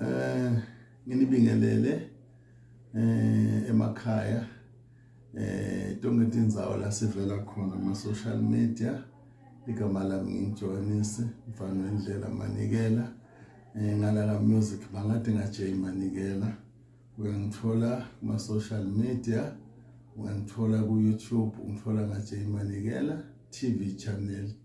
eh nginibingelele eh emakhaya eh tonke tindzawo la sivela khona ma social media igama lami ngingijoyinise mfana wendlela manikela eh ngala ka music bangathi ngajay manikela uyangithola kuma social media uyangithola ku YouTube ungithola ngajay manikela TV channel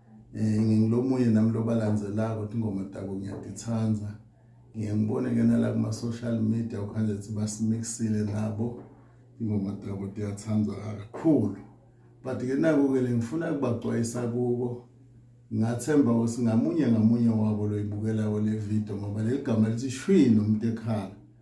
eh ngingilomunye nami lobalandzelako ukuthi ingoma tabo ngiyatithanda ngiye ngibone ke nala kuma social media ukhanje ukuthi basimixile nabo ingoma tabo tiyathandwa kakhulu but ke naku ke lengifuna kubagcwayisa kubo ngathemba ukuthi ngamunye ngamunye wabo loyibukelayo le video ngoba leligama lithi shwi nomuntu ekhala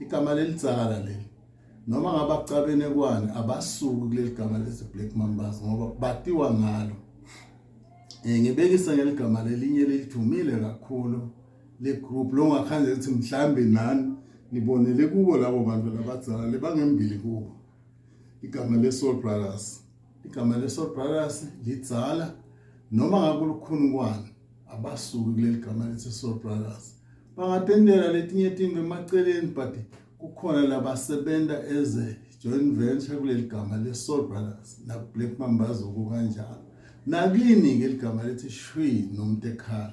igama lelidzala leli noma ngabakucabene kwani abasuki kuleli gama lezi black mambas ngoba batiwa ngalo eh ngibekisa ngeligama lelinye lelithumile kakhulu le group lo ngakhange ukuthi mhlambe nani nibonele kubo labo bantu labadzala lebangembili kubo igama le soul brothers igama leso brothers lidzala noma ngakulukhunukwana abasuki kuleli gama lethi soul brothers bangatendela letinye tinto emaceleni but kukhona labasebenza as a joint venture kuleli gama le-soul brothers nakublack mambazuku kanjalo nakini-ke ligama lethi shwi nomuntu ekhala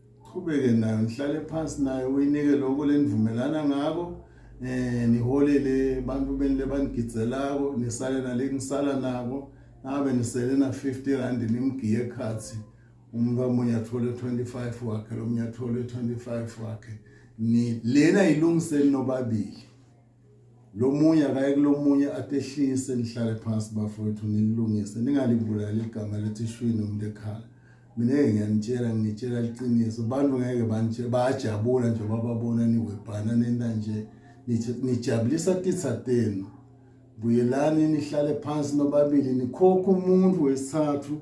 qhubeke nayo nihlale phansi nayo uyinike lokho lenivumelana ngako eh niholele abantu benile banigidzelako nisale nale ngisala nabo nabe nisele na 50 rand nimgiye ekhathi umuntu amunye athole 25 wakhe lomunye athole 25 wakhe ni lena ilungiseni nobabili lo munye akaye kulomunye atehlise nihlale phansi bafowethu nilungise ningalibulali igama lethi shwi nomuntu ekhala mina ke ngiyanitshela ngitshela liqiniso abantu ngeke banje bayajabula nje bababona niwebhana nenta nje nijabulisa titha tenu buyelani nihlale phansi nobabili nikhokha umuntu wesithathu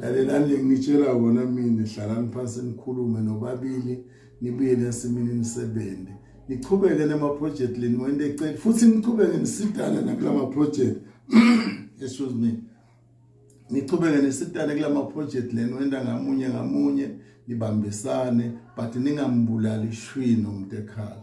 lalelani lengitshela kona mina hlalani phansi nikhulume nobabili nibuye nesimini nisebenze niqhubeke namaproject leni wende ecela futhi niqhubeke nisidana nakulama project excuse me niqhubeke nisidane kulama project leni wenda ngamunye ngamunye nibambisane but ningambulali shwi nomntekhala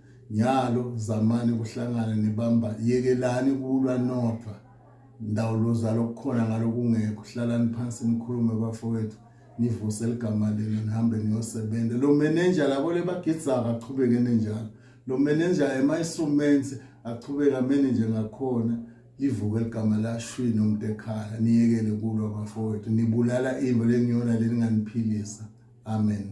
nyalo zamani kuhlangana nibamba yekelani kulwa nodwa ndawo lozalo kukhona ngalokungekho hlalani phansi nikhulume bafowethu nivuse ligama lenu nihambe niyosebenza lo manager labo lebagidza akachubeke nenjalo lo manager emayisumensi achubeke amene nje ngakhona livuke ligama lashwini umuntu ekhaya niyekele kulwa bafowethu nibulala imbo leniyona leninganiphilisa amen